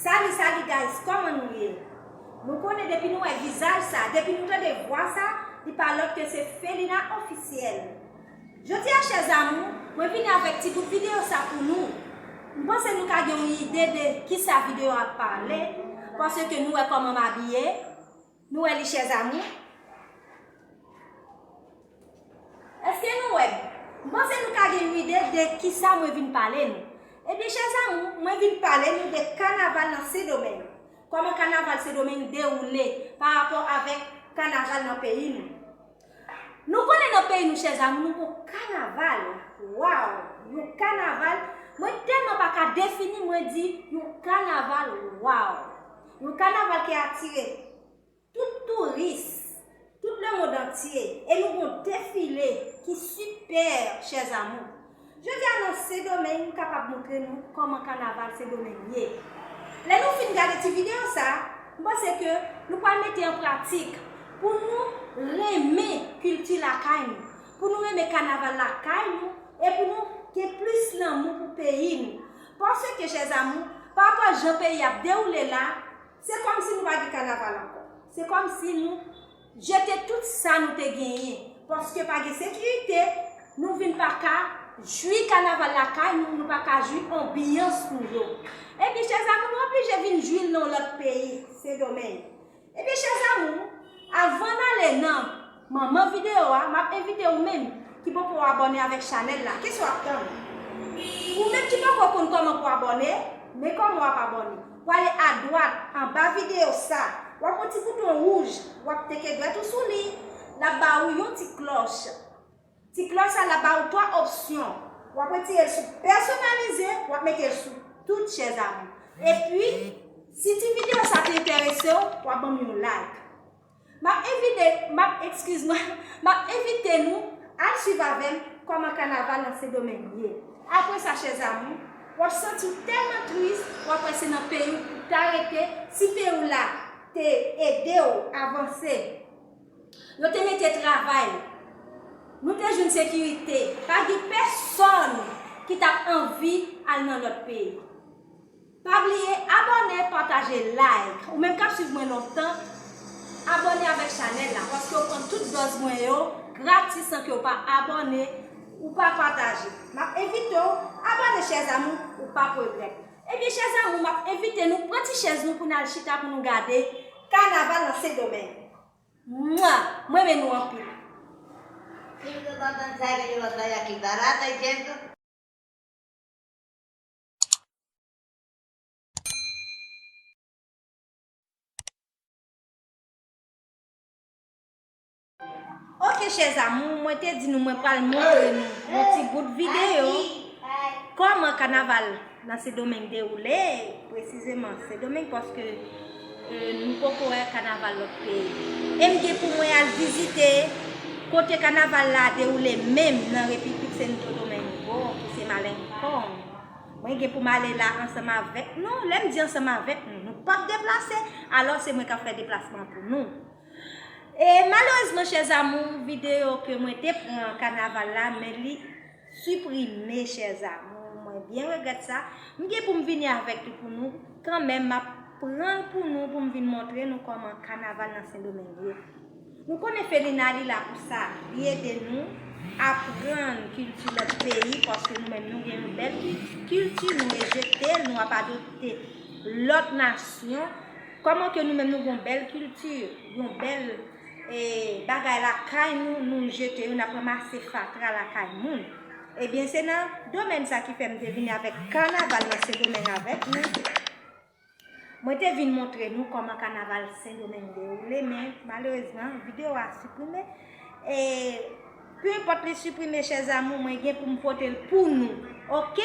Salut salut guys koman nou ye Nou konnen depi nou wè vizaj sa depi nou tande vwa sa li pa lòt ke se Felina officiel Jodi a chè zamou mwen vini avèk ti bout video sa pou nou M panse nou ka gen yon ide de kisa video a ap pale paske nou wè koman m abiye Nou wè li chers amours. Eske nou wè? M panse nou ka gen yon ide de kisa mwen vin pale nou. Ebyen chers amours, mwen vin pale nou de kanaval nan Sendomeng. Koman kanaval Sendomeng dewoule pa rapò avèk kanaval nan peyi nou. Nou konnen nan peyi nou chè zamou nou gon kanaval waw yon kanaval mwen tèlman pa ka defini mwen di yon kanaval waw yon kanaval ki atire tout touris tout le mond antye e nou gon defile ki sipè chè zamou. Jodi a nan Sendomeng m kapab montre nou kòman kanaval Sendomeng ye. Lè nou fin gade ti videyo sa, m panse ke nou pral mete an pratik pou nou renmen kilti lakay nou, pou nou renmen kanaval lakay nou e pou nou gen plis lanmou pou peyi nou. Paske chèzamou, pa rapò jan peyi a ap dewoule la, se kòmsi nou pa gen kanaval ankò. Se kòmsi nou Jete tout sa nou te genyen. Paske pa gen sekirite, nou vin pa ka jwi kanaval lakay nou, nou pa ka jwi anbiyans nou yo. Ebyen chè zamou nou oblije vin jwi l nan yon lòt peyi, Sendomeng. Ebyen chè zamou, avan n ale nan manman videyo a, m ap envite ou menm ki poko abòne avèk chanèl la, kès w ap tann? Ou menm ki poko konn kòman pou abòne, men kòman w ap abòne? Pwale adwat, anba video sa, wap wè ti bouton wouj, wap teke dwèt ou sou li, lap ba ou yon ti klòch. Ti klòch sa la ba ou 3 opsyon, wap retire l sou pèsonalize, wap mete l sou tout chèz a ou. Epi, si ti video sa te enterese ou, wap banm yon like. M ap envite, m ap, ekskiz mwen, m ap envite nou al swiv avè m kòman kanaval nan Sendomeng ye. Apre sa, chè zamou, w ap santi w tèlman tris, w ap wè se nan peyi w pou w ta rete, si peyi w la te ede w avanse, yo te mete travay, nou te jwenn sekirite, pa gen pèsòn ki t ap anvi al nan lòt peyi. Pa bliye abòne pataje like ou menm kap swiv mwen lontan abòne avèk chanèl la paske ou pran tout dòz mwen yo gratis san kew pa abòne ou pa pataje map envitew abòne chèz amou ou pap regrèt ebyen chèz amou map envite nou pran ti chèz nou pou nal chita pou nou gade kanaval nan sendomeng mwaa mrenmen nou anpil. Sim do banbann sa gen yon lòt bagay ki barata jenn tou. Ok chè zamou, mwen te di nou mwen pral montre nou yon ti bout videyo Koman kanaval nan sedomeng dewoule, presizeman sedomeng paske Ke nou poko wè kanaval lòt peyi. Em gen pou mwen al vizite kote kanaval la dewoule menm nan repiplik Sento Domengo ki se Malenkong. Mwen gen pou m ale la ansanm avèk nou. Lè m di ansanm avèk nou, nou pap deplase, alò se mwen kap fè deplasman pou nou. E malerezman chèzamou, videyo ke mwen te pran kanaval la men li. Suprime chers amours mwen byen regrèt sa, m gen poum vini avèk li pou nou, kanmenm map pranl pou nou poum vin montre nou kòman kanaval nan sendomeng ye. Nou konnen Felina li la pou sa, li ede nou aprann kilti lòt peyi paske nou menm nou gen yon bèl kilti nou rejete l nou ap adopte lòt nasyon, kòman ke nou menm nou gen yon bèl kilti, yon bèl. bagay lakay nou, nou jete yo, n ap ranmase fatra lakay moun. Ebyen se nan domèn sa ki fè m te vini avèk kanaval nan Sendomeng avèk nou. Mwen te vin montre nou kòman kanaval Sendomeng dewoule men malerezman videyo a siprime. Peu importe li supprime chers amours mwen gen pou m pote l pou nou ok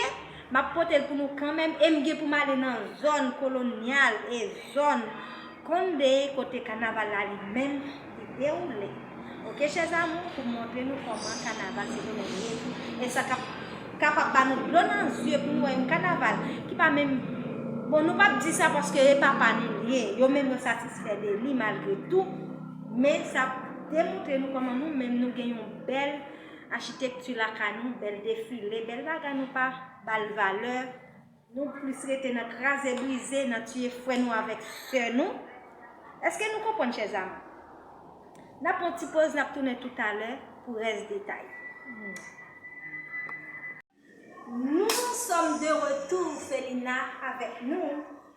m ap pote l pou nou kanmenm e m gen pou m ale nan zòn kolonyal e zòn Conde kote kanaval la li menm li dewoule ok chers amours pou m montre nou kòman kanaval se yon lye e sa k ap kapab ba nou dlo nan zye pou nou wè yon kanaval ki pa menm bon nou p ap di sa paske e pa pa nou l ye yo menm yo satisfè de li malgre tou men sa Demontre nou kòman nou menm nou gen yon bèl achitekti lakay nou, bèl defile, bèl bagay nou pa ba l valè, nou plis rete nan kraze brize, nan tiye frè nou avèk sè nou. Eske nou konprann chè zanmi? N ap pran yon ti poz, n ap tounen toutalè pou rès detay. Nou sòm de retou Felina avèk nou.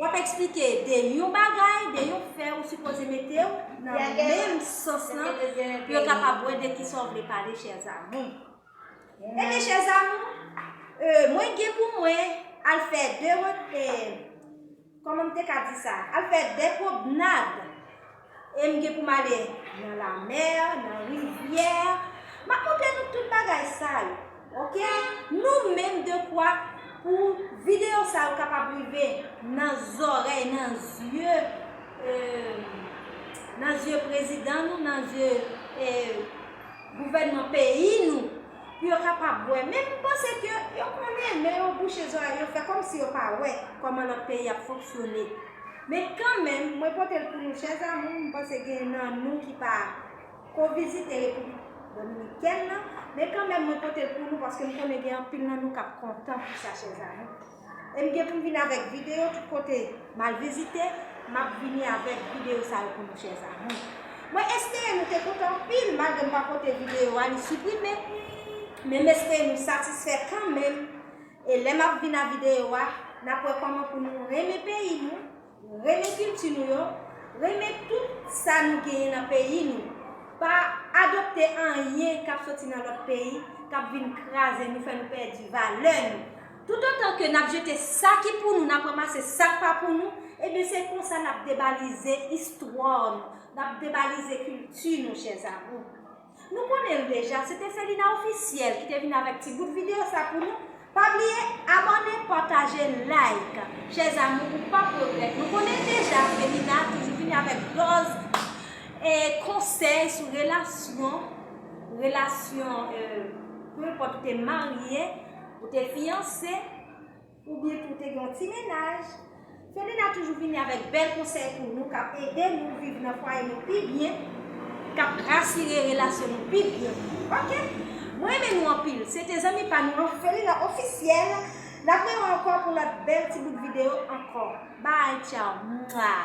Wap explike de yon bagay, de yon fè ou sipoze metew nan menm sans lan pou yo kapab wè de kisa ou vle pale chers amours. Ebyen chers amours, mwen gen pou mwen al fè de, kòman m te ka di sa, al fè de pwobnad. E m gen pou m ale nan lamè, nan rivyè. M ap montre nou tout bagay sa yo. Ok? Nou menm dekwa pou videyo sa yo kapab rive nan zòrèy, nan zye, nan zye prezidan nou, nan zye gouvènman peyi nou. Pou yo kapab wè. Men m panse ke yo konnen, men yo bouche zòrèy yo fè kòmsi yo pa wè kòman lòt peyi ap fonksyone. Men kanmenm, mwen pote l pou nou chè zamou, m panse gen nan nou ki pa ko vizite Repiblik Dominikèn nan, men kanmenm mwen pote l pou nou paske m konnen gen anpil nan nou k ap kontan pou sa chè zamou. E m gen pou m vini avèk videyo tout kote m al vizite, m ap vini avèk videyo sa yo pou nou chè zamou. Mwen espere nou te kontan anpil malgre m pa pote videyo a li siprime, men m espere nou satisfè kanmenm. E lè map vin a video a, nap wè kòman pou nou renmen peyi nou, renmen kilti nou yo, renmen tout sa nou genyen nan peyi nou. Pa adopte anyen kap soti nan lòt peyi, kap vin kraze nou, fè nou pèdi valè nou. Toutotan ke nap jete sa ki pou nou, nap ranmase sak pa pou nou, ebyen se konsa nap debalize istwa nou, nap debalize kilti nou chèzamou. Nou konnen l deja, se te Felina Officiel ki te vin avèk ti bout video sa pou nou, pa bliye abòne, pataje, like chers amours ou pap regrèt, nou konnen deja Felina toujou vini avèk dòz e konsèy sou relasyon, relasyon, euh, peu enpòt ou te marye, ou te fiyanse. Ou byen tou te gen yon ti mennaj. Fedena toujou vini avèk bèl konsèy pou nou kap ede nou viv nan fwaye nou pi byen, kap rasire relasyon nou pi byen ok mwen renmen nou anpil se te zanmi pa nou an Fedena officiel nap gen nou ankò pou lòt bèl ti bout video ankò bye tchau mwaa.